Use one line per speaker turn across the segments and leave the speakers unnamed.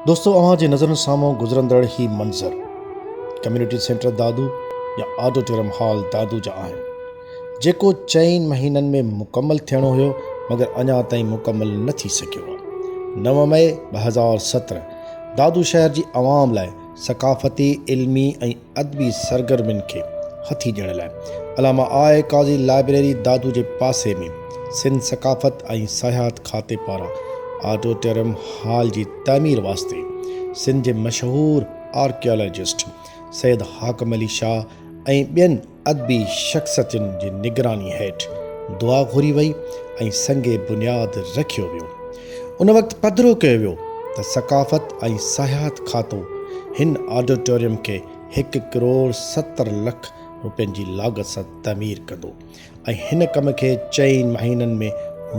دوستو اوهان جي نظرن سامهون گذرندڙ هي منظر ڪميونٽي سينٽر دادو يا آڊوٽيرم هال دادو جا آهن جيڪو چئن مهينن ۾ مڪمل ٿيڻو هيو مگر اڃا تائين مڪمل نه ٿي سگهيو آهي نو مئي ٻه هزار سترهن دادو شهر جي عوام لاء ثقافتي علمي ۽ ادبي سرگرمين کي هٿي ڏيڻ لاء علامه آء قاضي لائبريري دادو جي پاسي ۾ سنڌ ثقافت ۽ سياحت کاتي پاران آڊوٽريم هال جي تعمير واسطي سنڌ جي مشهور آرڪيالاجسٽ سيد حاڪم علي شاهه ۽ ٻين ادبي شخصتين جي نگراني هيٺ دعا گهري وئي ۽ سنگ بنياد رکيو ويو. ان وقت پڌرو ڪيو ويو ته ثقافت ۽ سياحت کاتو هن آڊيٽوريم کي هڪ ڪروڙ ستر لک روپين جي لاڳت سان تعمير ڪندو ۽ هن ڪم کي چئن مهينن ۾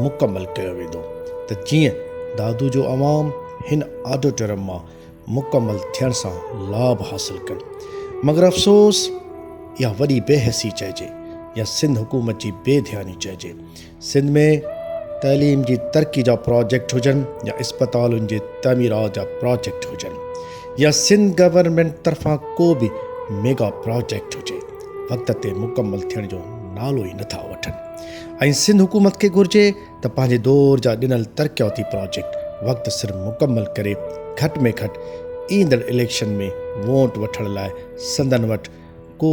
مڪمل ڪيو ويندو ته جيئن دادو جو عوام هن آڊيٽوريم مان مڪمل ٿيڻ سان لاڀ حاصل ڪن مگر افسوس يا وڏي بي حسي چئجي يا سنڌ حڪومت جي بي ڌياني چئجي سنڌ ۾ تعليم جي ترقي جا پراجيڪٽ هجن يا اسپتالن جي تعميرات جا پراجيڪٽ هجن يا سنڌ گورنمينٽ طرفان ڪو به ميگا پراجيڪٽ هجي وقت تي مڪمل ٿيڻ جو نالو ئي نٿا وٺن ۽ سنڌ حڪومت کي گهرجي ته پنهنجي دور جا ڏنل ترقياتي پراجيڪٽ وقت سر مڪمل ڪري گهٽ ۾ گهٽ ايندڙ اليڪشن ۾ وونٽ وٺڻ لاء سندن وٽ ڪو